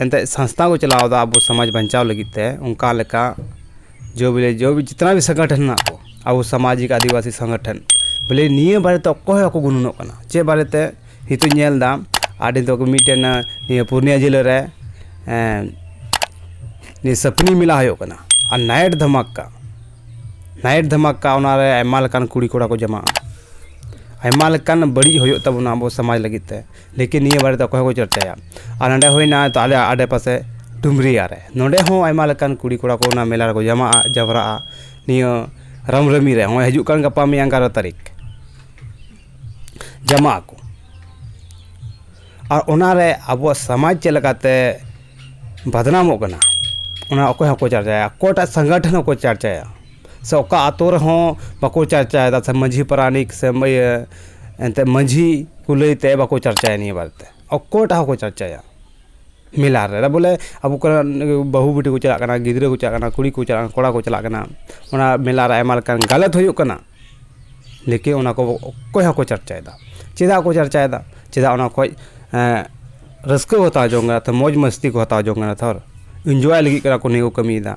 ᱮᱱᱛᱮᱫ ᱥᱚᱝᱥᱛᱷᱟ ᱠᱚ ᱪᱟᱞᱟᱣᱫᱟ ᱟᱵᱚ ᱥᱚᱢᱟᱡᱽ ᱵᱟᱧᱪᱟᱣ ᱞᱟᱹᱜᱤᱫ ᱛᱮ ᱚᱱᱠᱟ ᱞᱮᱠᱟ ᱡᱳ ᱵᱚᱞᱮ ᱡᱳ ᱵᱚᱞᱮ ᱡᱤᱛᱱᱟ ᱵᱷᱤ ᱥᱚᱝᱜᱚᱴᱷᱚᱱ ᱢᱮᱱᱟᱜ ᱠᱚ ᱟᱵᱚ ᱥᱟᱢᱟᱡᱤᱠ ᱟᱹᱫᱤᱵᱟᱹᱥᱤ ᱥᱚᱝᱜᱚᱴᱷᱚᱱ ᱵᱚᱞᱮ ᱱᱤᱭᱟᱹ ᱵᱟᱨᱮ ᱛᱮ ᱚᱠᱚᱭ ᱦᱚᱸ ᱵᱟᱠᱚ ᱜᱩᱱᱟᱹᱱᱚᱜ ᱠᱟᱱᱟ ᱪᱮᱫ ᱵᱟᱨᱮ ᱛᱮ ᱱᱤᱛᱚᱜ ᱤᱧ ᱧᱮᱞᱫᱟ ᱟᱹᱰᱤ ᱫᱚ ᱢᱤᱫᱴᱮᱱ ᱱᱤᱭᱟᱹ ᱯᱩᱨᱩᱞᱤᱭᱟᱹ ᱡᱮᱞᱟ ᱨᱮ ᱱᱤᱭᱟᱹ ᱥᱟᱹᱯᱲᱤ ᱢᱮᱞᱟ ᱦᱩᱭᱩᱜ ᱠᱟᱱᱟ ᱟᱨ ᱱᱟᱭᱤᱴ ᱫᱷᱟᱢᱟᱠᱟ ᱱᱟᱭᱤᱴ ᱫᱷᱟᱢᱟᱠᱟ ᱚᱱᱟ ᱨᱮ ᱟᱭᱢᱟ ᱞᱮᱠᱟᱱ ᱠᱩᱲᱤᱼᱠᱚᱲᱟ ᱠᱚ ᱡᱚᱢᱟᱜᱼᱟ ᱟᱭᱢᱟ ᱞᱮᱠᱟᱱ ᱵᱟᱹᱲᱤᱡ ᱦᱩᱭᱩᱜ ᱛᱟᱵᱚᱱᱟ ᱟᱵᱚ ᱥᱚᱢᱟᱡᱽ ᱞᱟᱹᱜᱤᱫ ᱛᱮ ᱞᱮᱠᱤᱱ ᱱᱤᱭᱟᱹ ᱵᱟᱨᱮ ᱫᱚ ᱚᱠᱚᱭ ᱦᱚᱸ ᱵᱟᱠᱚ ᱪᱚᱨᱪᱟᱭᱟ ᱟᱨ ᱱᱚᱰᱮ ᱦᱩᱭᱱᱟ ᱛᱚ ᱟᱞᱮ ᱟᱰᱮ ᱯᱟᱥᱮ ᱰᱩᱢᱨᱤᱭᱟ ᱨᱮ ᱱᱚᱰᱮ ᱦᱚᱸ ᱟᱭᱢᱟ ᱞᱮᱠᱟᱱ ᱠᱩᱲᱤ ᱠᱚᱲᱟ ᱠᱚ ᱚᱱᱟ ᱢᱮᱞᱟ ᱨᱮᱠᱚ ᱡᱟᱣᱨᱟᱜᱼᱟ ᱡᱟᱣᱨᱟᱜᱼᱟ ᱱᱤᱭᱟᱹ ᱨᱟᱢ ᱱᱚᱵᱚᱢᱤ ᱨᱮ ᱱᱚᱜᱼᱚᱭ ᱦᱤᱡᱩᱜ ᱠᱟᱱ ᱜᱟᱯᱟ ᱢᱮᱭᱟᱝ ᱮᱜᱟᱨᱚ ᱛᱟᱹᱨᱤᱠᱷ ᱡᱚᱢᱟᱜ ᱟᱠᱚ ᱟᱨ ᱚᱱᱟ ᱨᱮ ᱟᱵᱚᱣᱟᱜ ᱥᱚᱢᱟᱡᱽ ᱪᱮᱫ ᱞᱮᱠᱟᱛᱮ ᱵᱚᱫᱱᱟᱢᱚᱜ ᱠᱟᱱᱟ ᱚᱱᱟ ᱚᱠᱚᱭ ᱦᱚᱸ ᱵᱟᱠᱚ ᱪᱟᱨᱪᱟᱭᱟ ᱚᱠᱚᱭᱴᱟᱜ ᱥᱚᱝᱜᱚᱴᱷᱚᱱ ᱦᱚᱸ ᱵᱟᱠᱚ ᱪᱟᱨᱪᱟᱭᱟ ᱥᱮ ᱚᱠᱟ ᱟᱹᱛᱩ ᱨᱮᱦᱚᱸ ᱵᱟᱠᱚ ᱪᱟᱨᱪᱟᱭᱮᱫᱟ ᱥᱮ ᱢᱟᱹᱡᱷᱤ ᱯᱟᱨᱟᱱᱤᱠ ᱥᱮ ᱤᱭᱟᱹ ᱮᱱᱛᱮᱫ ᱢᱟᱹᱡᱷᱤ ᱠᱚ ᱞᱟᱹᱭ ᱛᱮ ᱵᱟᱠᱚ ᱪᱟᱨᱪᱟᱭᱟ ᱱᱤᱭᱟᱹ ᱵᱟᱨᱮ ᱛᱮ ᱚᱠᱚᱭᱴᱟᱜ ᱦᱚᱸ ᱵᱟᱠᱚ ᱪᱟᱨᱪᱟᱭᱟ ᱢᱮᱞᱟ ᱨᱮ ᱟᱫᱚ ᱵᱚᱞᱮ ᱟᱵᱚ ᱠᱚᱨᱮᱱ ᱵᱟᱹᱦᱩ ᱵᱤᱴᱤ ᱠᱚ ᱪᱟᱞᱟᱜ ᱠᱟᱱᱟ ᱜᱤᱫᱽᱨᱟᱹ ᱠᱚ ᱪᱟᱞᱟᱜ ᱠᱟᱱᱟ ᱠᱩᱲᱤ ᱠᱚ ᱪᱟᱞᱟᱜ ᱠᱟᱱᱟ ᱠᱚᱲᱟ ᱠᱚ ᱪᱟᱞᱟᱜ ᱠᱟᱱᱟ ᱚᱱᱟ ᱢᱮᱞᱟ ᱨᱮ ᱟᱭᱢᱟ ᱞᱮᱠᱟᱱ ᱜᱟᱞᱟᱛ ᱦᱩᱭᱩᱜ ᱠᱟᱱᱟ ᱞᱮᱠᱤᱱ ᱚᱱᱟ ᱠᱚ ᱚᱠᱚᱭ ᱦᱚᱸ ᱵᱟᱠᱚ ᱪᱟᱨᱪᱟᱭᱮᱫᱟ ᱪᱮᱫᱟᱜ ᱠᱚ ᱪᱟᱨᱪᱟᱭᱮᱫᱟ ᱪᱮᱫᱟᱜ ᱚᱱᱟ ᱠᱷᱚᱱ ᱨᱟᱹᱥᱠᱟᱹ ᱠᱚ ᱦᱟᱛᱟᱣ ᱡᱚᱝ ᱠᱟᱱᱟ ᱢᱚᱡᱽ ᱢᱟᱹᱥᱛᱤ ᱠᱚ ᱦᱟᱛᱟᱣ ᱡᱚᱝ ᱠᱟᱱᱟ ᱛᱷᱚᱨ ᱤᱱᱡᱚᱭ ᱞᱟᱹᱜᱤᱫ ᱠᱟᱱᱟ ᱠᱚ ᱱᱤᱭᱟᱹ ᱠᱚ ᱠᱟᱹᱢᱤᱭᱮᱫᱟ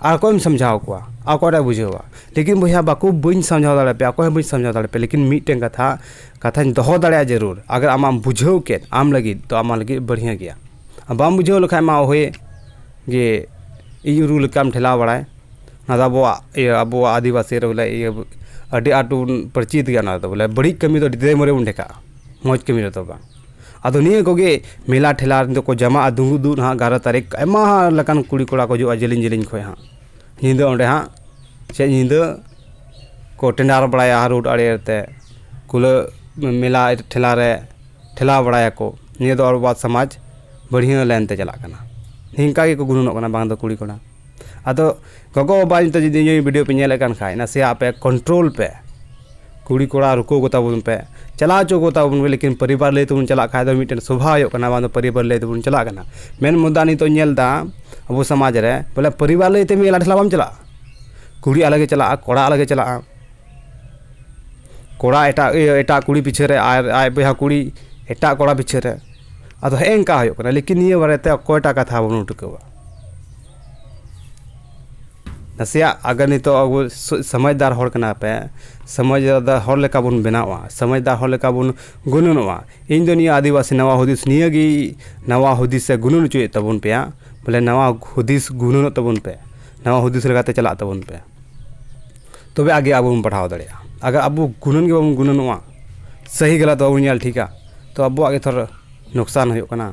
ᱟᱨ ᱚᱠᱚᱭᱮᱢ ᱥᱚᱢᱡᱷᱟᱣ ᱠᱚᱣᱟ ᱟᱨ ᱚᱠᱚᱭᱴᱟᱜ ᱮ ᱵᱩᱡᱷᱟᱹᱣᱟ ᱞᱮᱠᱤᱱ ᱵᱚᱭᱦᱟ ᱵᱟᱠᱚ ᱵᱟᱹᱧ ᱥᱟᱢᱡᱷᱟᱣ ᱫᱟᱲᱮᱭᱟᱯᱮᱭᱟ ᱚᱠᱚᱭ ᱦᱚᱸ ᱵᱟᱹᱧ ᱥᱟᱢᱡᱷᱟᱣ ᱫᱟᱲᱮᱭᱟᱯᱮᱭᱟ ᱞᱮᱠᱤᱱ ᱢᱤᱫᱴᱮᱱ ᱠᱟᱛᱷᱟ ᱠᱟᱛᱷᱟᱧ ᱫᱚᱦᱚ ᱫᱟᱲᱮᱭᱟᱜᱼᱟ ᱡᱟᱹᱨᱩᱲ ᱟᱜᱟᱨ ᱟᱢᱟᱜ ᱮᱢ ᱵᱩᱡᱷᱟᱹᱣ ᱠᱮᱫ ᱟᱢ ᱞᱟᱹᱜᱤᱫ ᱛᱚ ᱟᱢᱟᱜ ᱞᱟᱹᱜᱤᱫ ᱵᱟᱹᱲᱦᱭᱟᱹ ᱜᱮᱭᱟ ᱟᱨ ᱵᱟᱢ ᱵᱩᱡᱷᱟᱹᱣ ᱞᱮᱠᱷᱟᱡ ᱢᱟ ᱦᱳᱭ ᱡᱮ ᱤᱧ ᱨᱩ ᱞᱮᱠᱟᱢ ᱴᱷᱮᱞᱟᱣ ᱵᱟᱲᱟᱭ ᱚᱱᱟᱫᱚ ᱟᱵᱚᱣᱟᱜ ᱤᱭᱟᱹ ᱟᱵᱚᱣᱟᱜ ᱟᱹᱫᱤᱵᱟᱹᱥᱤ ᱨᱮ ᱵᱚᱞᱮ ᱤᱭᱟᱹ ᱟᱹᱰᱤ ᱟᱸᱴ ᱵᱚᱱ ᱯᱚᱨᱤᱪᱤᱛ ᱜᱮᱭᱟ ᱚᱱᱟᱫᱚ ᱵᱚᱞᱮ ᱵᱟᱹᱲᱤᱡ ᱠᱟᱹᱢᱤ ᱫᱚ ᱟᱹᱰᱤ ᱫᱟᱭᱮ ᱢᱟᱹᱨᱮ ᱵᱚᱱ ᱰᱷᱮᱠᱟᱜᱼᱟ ᱢᱚᱡᱽ ᱠᱟᱹᱢᱤ ᱨᱮᱫᱚ ᱵᱟᱝ ᱟᱫᱚ ᱱᱤᱭᱟᱹ ᱠᱚᱜᱮ ᱢᱮᱞᱟ ᱴᱷᱮᱞᱟ ᱨᱮᱫᱚ ᱠᱚ ᱡᱟᱢᱟᱜᱼᱟ ᱫᱩᱝᱜᱩᱫᱩᱜ ᱱᱟᱦᱟᱜ ᱮᱜᱟᱨᱚ ᱛᱟᱹᱨᱤᱠᱷ ᱟᱭᱢᱟ ᱞᱮᱠᱟᱱ ᱠᱩᱲᱤ ᱠᱚᱲᱟ ᱠᱚ ᱦᱤᱡᱩᱜᱼᱟ ᱡᱮᱞᱮᱧ ᱡᱮᱞᱮᱧ ᱠᱷᱚᱱ ᱦᱟᱸᱜ ᱧᱤᱫᱟᱹ ᱚᱸᱰᱮ ᱦᱟᱸᱜ ᱥᱮ ᱧᱤᱫᱟᱹ ᱠᱚ ᱴᱮᱸᱰᱟᱨ ᱵᱟᱲᱟᱭᱟ ᱨᱳᱰ ᱟᱲᱮ ᱟᱲᱮᱛᱮ ᱠᱩᱞᱟᱹ ᱢᱮᱞᱟ ᱴᱷᱮᱞᱟ ᱨᱮ ᱴᱷᱮᱞᱟᱣ ᱵᱟᱲᱟᱭᱟᱠᱚ ᱱᱤᱭᱟᱹ ᱫᱚ ᱟᱵᱚᱣᱟᱜ ᱥᱚᱢᱟᱡᱽ ᱵᱟᱹᱲᱦᱭᱟᱹ ᱞᱟᱭᱤᱱ ᱛᱮ ᱪᱟᱞᱟᱜ ᱠᱟᱱᱟ ᱱᱤᱝᱠᱟ ᱜᱮᱠᱚ ᱜᱩᱱᱟᱹᱱᱚᱜ ᱠᱟᱱᱟ ᱵᱟᱝ ᱫᱚ ᱠᱩᱲᱤᱼᱠᱚᱲᱟ ᱟᱫᱚ ᱜᱚᱜᱚᱼᱵᱟᱵᱟ ᱱᱤᱛᱳᱜ ᱡᱩᱫᱤ ᱤᱧᱟᱹᱜ ᱵᱷᱤᱰᱭᱳ ᱯᱮ ᱧᱮᱞᱮᱫ ᱠᱟᱱ ᱠᱷᱟᱱ ᱱᱟᱥᱮᱭᱟᱜ ᱟᱯᱮ ᱠᱚᱱᱴᱨᱳᱞ ᱯᱮ ᱠᱩᱲᱤ ᱠᱚᱲᱟ ᱨᱩᱠᱩ ᱠᱚᱛᱟ ᱵᱚᱱ ᱯᱮ ᱪᱟᱞᱟᱣ ᱦᱚᱪᱚ ᱠᱚᱛᱟ ᱵᱚᱱ ᱯᱮ ᱞᱮᱠᱤᱱ ᱯᱚᱨᱤᱵᱟᱨ ᱞᱟᱹᱭ ᱛᱮᱵᱚᱱ ᱪᱟᱞᱟᱜ ᱠᱷᱟᱱ ᱫᱚ ᱢᱤᱫᱴᱮᱱ ᱥᱚᱵᱷᱟ ᱦᱩᱭᱩᱜ ᱠᱟᱱᱟ ᱵᱟᱝ ᱫᱚ ᱯᱚᱨᱤᱵᱟᱨ ᱞᱟᱹᱭ ᱛᱮᱵᱚᱱ ᱪᱟᱞᱟᱜ ᱠᱟᱱᱟ ᱢᱮᱱ ᱢᱩᱫᱽᱫᱟ ᱱᱤᱛᱳᱜ ᱤᱧ ᱧᱮᱞᱫᱟ ᱟᱵᱚ ᱥᱚᱢᱟᱡᱽ ᱨᱮ ᱵᱚᱞᱮ ᱯᱚᱨᱤᱵᱟᱨ ᱞᱟᱹᱭ ᱛᱮ ᱢᱮᱞᱟ ᱴᱷᱮᱞᱟ ᱵᱟᱢ ᱪᱟᱞᱟᱜᱼᱟ ᱠᱩᱲᱤ ᱟᱞᱟᱜᱮ ᱪᱟᱞᱟᱜᱼᱟ ᱠᱚᱲᱟ ᱟᱞᱟᱜᱮ ᱪᱟᱞᱟᱜᱼᱟ ᱠᱚᱲᱟ ᱮᱴᱟᱜ ᱤᱭᱟᱹ ᱮᱴᱟᱜ ᱠᱩᱲᱤ ᱯᱤᱪᱷᱟᱹ ᱨᱮ ᱟᱨ ᱟᱡ ᱵᱚᱭᱦᱟ ᱠᱩᱲᱤ ᱮᱴᱟᱜ ᱠᱚᱲᱟ ᱯᱤᱪᱷᱟᱹ ᱨᱮ ᱟᱫᱚ ᱦᱮᱸᱜᱼᱮ ᱱᱤᱝᱠᱟ ᱦᱩᱭᱩᱜ ᱠᱟᱱᱟ ᱞᱮᱠᱤᱱ ᱱᱤᱭᱟᱹ ᱵᱟᱨᱮ ᱛᱮ ᱚᱠᱚᱭᱴᱟᱜ ᱠᱟᱛᱷᱟ ᱵᱟᱵᱚᱱ ᱴᱤᱠᱟᱹᱣᱟ ᱱᱟᱥᱮᱭᱟᱜ ᱟᱜᱮ ᱱᱤᱛᱳᱜ ᱟᱵᱚ ᱥᱚᱢᱟᱡᱽᱫᱟᱨ ᱦᱚᱲ ᱠᱟᱱᱟ ᱯᱮ ᱥᱚᱢᱟᱡᱽ ᱫᱟᱨ ᱦᱚᱲ ᱞᱮᱠᱟ ᱵᱚᱱ ᱵᱮᱱᱟᱣᱚᱜᱼᱟ ᱥᱚᱢᱟᱡᱽᱫᱟᱨ ᱦᱚᱲ ᱞᱮᱠᱟ ᱵᱚᱱ ᱜᱩᱱᱟᱹᱱᱚᱜᱼᱟ ᱤᱧ ᱫᱚ ᱱᱤᱭᱟᱹ ᱟᱹᱫᱤᱵᱟᱹᱥᱤ ᱱᱟᱣᱟ ᱦᱩᱫᱤᱥ ᱱᱤᱭᱟᱹ ᱜᱮ ᱱᱟᱣᱟ ᱦᱩᱫᱤᱥᱮ ᱜᱩᱱᱟᱹᱱ ᱦᱚᱪᱚᱭᱮᱫ ᱛᱟᱵᱚᱱ ᱯᱮᱭᱟ ᱵᱚᱞᱮ ᱱᱟᱣᱟ ᱦᱩᱫᱤᱥ ᱜᱩᱱᱟᱹᱱᱚᱜ ᱛᱟᱵᱚᱱ ᱯᱮ ᱱᱟᱣᱟ ᱦᱩᱫᱤᱥ ᱞᱮᱠᱟᱛᱮ ᱪᱟᱞᱟᱜ ᱛᱟᱵᱚᱱ ᱯᱮ ᱛᱚᱵᱮ ᱟᱜᱮ ᱟᱵᱚ ᱵᱚᱱ ᱯᱟᱲᱦᱟᱣ ᱫᱟᱲᱮᱭᱟᱜᱼᱟ ᱟᱜᱟᱨ ᱟᱵᱚ ᱜᱩᱱᱟᱹᱱ ᱜᱮ ᱵᱟᱵᱚᱱ ᱜᱩᱱᱟᱹᱱᱚᱜᱼᱟ ᱥᱟᱹᱦᱤ ᱜᱟᱞᱟᱛ ᱵᱟᱵᱚᱱ ᱧᱮᱞ ᱴᱷᱤᱠᱟ ᱛᱚ ᱟᱵᱚᱣᱟᱜ ᱜᱮᱛᱚ ᱞᱚᱠᱥᱟᱱ ᱦᱩᱭᱩᱜ ᱠᱟᱱᱟ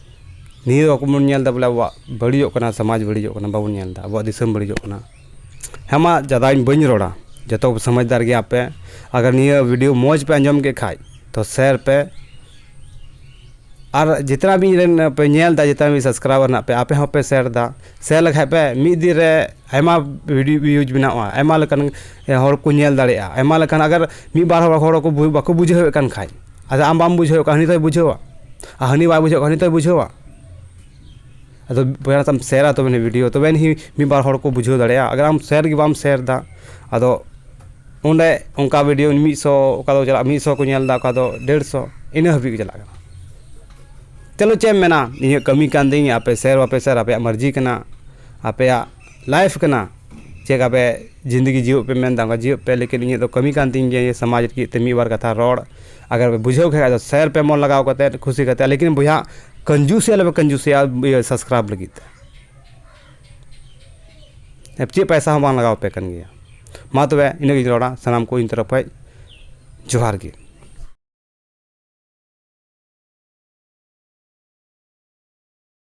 ᱱᱤᱭᱟᱹ ᱵᱟᱠᱚ ᱵᱚᱱ ᱧᱮᱞ ᱮᱫᱟ ᱵᱚᱞᱮ ᱟᱵᱚᱣᱟᱜ ᱵᱟᱹᱲᱤᱡᱚᱜ ᱠᱟᱱᱟ ᱥᱚᱢᱟᱡᱽ ᱵᱟᱹᱲᱤᱡᱚᱜ ᱠᱟᱱᱟ ᱵᱟᱵᱚᱱ ᱧᱮᱞ ᱮᱫᱟ ᱟᱵᱚᱣᱟᱜ ᱫᱤᱥᱚᱢ ᱵᱟᱹᱲᱤᱡᱚᱜ ᱠᱟᱱᱟ ᱦᱮᱸ ᱢᱟ ᱡᱟᱫᱟ ᱤᱧ ᱵᱟᱹᱧ ᱨᱚᱲᱟ ᱡᱚᱛᱚ ᱠᱚ ᱥᱚᱢᱟᱡᱽᱫᱟᱨ ᱜᱮᱭᱟ ᱯᱮ ᱟᱜᱟᱨ ᱱᱤᱭᱟᱹ ᱵᱷᱤᱰᱤᱭᱳ ᱢᱚᱡᱽ ᱯᱮ ᱟᱸᱡᱚᱢ ᱠᱮᱫ ᱠᱷᱟᱱ ᱛᱚ ᱥᱮᱭᱟᱨ ᱯᱮ ᱟᱨ ᱡᱚᱛᱚᱱᱟᱜ ᱜᱮ ᱤᱧ ᱨᱮᱱ ᱯᱮ ᱧᱮᱞ ᱮᱫᱟ ᱡᱚᱛᱚ ᱜᱮ ᱥᱟᱵᱥᱠᱨᱟᱭᱵᱟᱨ ᱢᱮᱱᱟᱜ ᱯᱮᱭᱟ ᱟᱯᱮ ᱦᱚᱸᱯᱮ ᱥᱮᱭᱟᱨ ᱮᱫᱟ ᱥᱮᱭᱟᱨ ᱞᱮᱠᱷᱟᱱ ᱯᱮ ᱢᱤᱫ ᱫᱤᱱ ᱨᱮ ᱟᱭᱢᱟ ᱵᱷᱤᱰᱤᱭᱳ ᱵᱷᱤᱭᱩᱡᱽ ᱵᱮᱱᱟᱣᱜᱼᱟ ᱟᱭᱢᱟ ᱞᱮᱠᱟᱱ ᱦᱚᱲ ᱠᱚ ᱧᱮᱞ ᱫᱟᱲᱮᱭᱟᱜᱼᱟ ᱟᱭᱢᱟ ᱞᱮᱠᱟᱱ ᱟᱜᱟᱨ ᱢᱤᱫ ᱵᱟᱨ ᱦᱚᱲ ᱦᱚᱲ ᱵᱟᱠᱚ ᱵᱩᱡᱷᱟᱹᱣᱮᱫ ᱠᱟᱱ ᱠᱷᱟᱱ ᱟᱫᱚ ᱟᱢ ᱵᱟᱢ ᱵᱩᱡᱷᱟᱹᱣ ᱠᱷᱟᱱ ᱦᱟᱹᱱᱤ ᱫᱚᱭ ᱵᱩᱡᱷᱟᱹᱣᱟ ᱟᱨ ᱦᱟᱹᱱᱤ ᱵᱟᱭ ᱵᱩᱡᱷᱟᱹᱣ ᱠᱷᱟᱱ ᱦᱟᱹᱱᱤ ᱫᱚᱭ ᱵᱩᱡᱷᱟᱹᱣᱟ ᱟᱫᱚ ᱵᱚᱭᱦᱟ ᱛᱟᱢ ᱥᱮᱭᱟᱨᱟ ᱛᱚᱵᱮ ᱱᱤᱭᱟᱹ ᱵᱷᱤᱰᱭᱳ ᱛᱚᱵᱮ ᱟᱹᱱᱤᱡ ᱢᱤᱫ ᱵᱟᱨ ᱦᱚᱲ ᱠᱚ ᱵᱩᱡᱷᱟᱹᱣ ᱫᱟᱲᱮᱭᱟᱜᱼᱟ ᱟᱜᱟᱨ ᱟᱢ ᱥᱮᱭᱟᱨ ᱜᱮ ᱵᱟᱢ ᱥᱮᱭᱟᱨᱫᱟ ᱟᱫᱚ ᱚᱸᱰᱮ ᱚᱱᱠᱟ ᱵᱷᱤᱰᱭᱳ ᱢᱤᱫ ᱥᱚ ᱚᱠᱟ ᱫᱚ ᱪᱟᱞᱟᱜᱼᱟ ᱢᱤᱫ ᱥᱚ ᱠᱚ ᱧᱮᱞᱫᱟ ᱚᱠᱟ ᱫᱚ ᱰᱮᱲᱥᱚ ᱤᱱᱟᱹ ᱦᱟᱹᱵᱤᱡ ᱜᱮ ᱪᱟᱞᱟᱜ ᱠᱟᱱᱟ ᱪᱚᱞᱚ ᱪᱮᱫ ᱮᱢ ᱢᱮᱱᱟ ᱤᱧᱟᱹᱜ ᱠᱟᱹᱢᱤ ᱠᱟᱱ ᱛᱤᱧᱟᱹ ᱟᱯᱮ ᱥᱮᱭᱟᱨ ᱵᱟᱯᱮ ᱥᱮᱭᱟᱨ ᱟᱯᱮᱭᱟᱜ ᱢᱟᱨᱡᱤ ᱠᱟᱱᱟ ᱟᱯᱮᱭᱟᱜ ᱞᱟᱭᱤᱯᱷ ᱠᱟᱱᱟ ᱪᱮᱫ ᱞᱮᱠᱟ ᱯᱮ ᱡᱤᱱᱫᱮᱜᱤ ᱡᱤᱭᱳᱜ ᱯᱮ ᱢᱮᱱᱫᱟ ᱚᱱᱠᱟ ᱡᱤᱭᱳᱜ ᱯᱮ ᱞᱮᱠᱤᱱ ᱤᱧᱟᱹᱜ ᱫᱚ ᱠᱟᱹᱢᱤ ᱠᱟᱱ ᱛᱤᱧ ᱜᱮᱭᱟ ᱱᱤᱭᱟᱹ ᱥᱚᱢᱟᱡᱽ ᱞᱟᱹᱜᱤᱫ ᱛᱮ ᱢᱤᱫ ᱵᱟᱨ ᱠᱟᱛᱷᱟ ᱨᱚᱲ ᱟᱜᱟᱨ ᱯᱮ ᱵᱩᱡᱷᱟᱹᱣ ᱠᱷᱟᱡ ᱟᱫᱚ ᱥᱮᱭᱟᱨ ᱯᱮ ᱢᱚᱱ ᱞᱟᱜᱟᱣ ᱠᱟᱛᱮ ᱠᱩᱥᱤ ᱠᱟᱛᱮ ᱞᱮᱠᱤᱱ ᱵᱚᱭᱦᱟ ᱠᱟᱹᱧᱡᱩᱥᱤ ᱟᱞᱚ ᱯᱮ ᱠᱟᱹᱧᱡᱩᱥᱤᱭᱟ ᱤᱭᱟᱹ ᱥᱟᱵᱥᱠᱨᱟᱭᱤᱵᱽ ᱞᱟᱹᱜᱤᱫ ᱛᱮ ᱟᱨ ᱪᱮᱫ ᱯᱚᱭᱥᱟ ᱦᱚᱸ ᱵᱟᱝ ᱞᱟᱜᱟᱣ ᱯᱮ ᱠᱟᱱ ᱜᱮᱭᱟ ᱢᱟ ᱛᱚᱵᱮ ᱤᱱᱟᱹ ᱜᱤᱧ ᱨᱚᱲᱟ ᱥᱟᱱᱟᱢ ᱠᱚ ᱤᱧ ᱛᱚᱨᱚᱯ ᱠᱷᱚᱡ ᱡᱚᱦᱟᱨ ᱜᱮ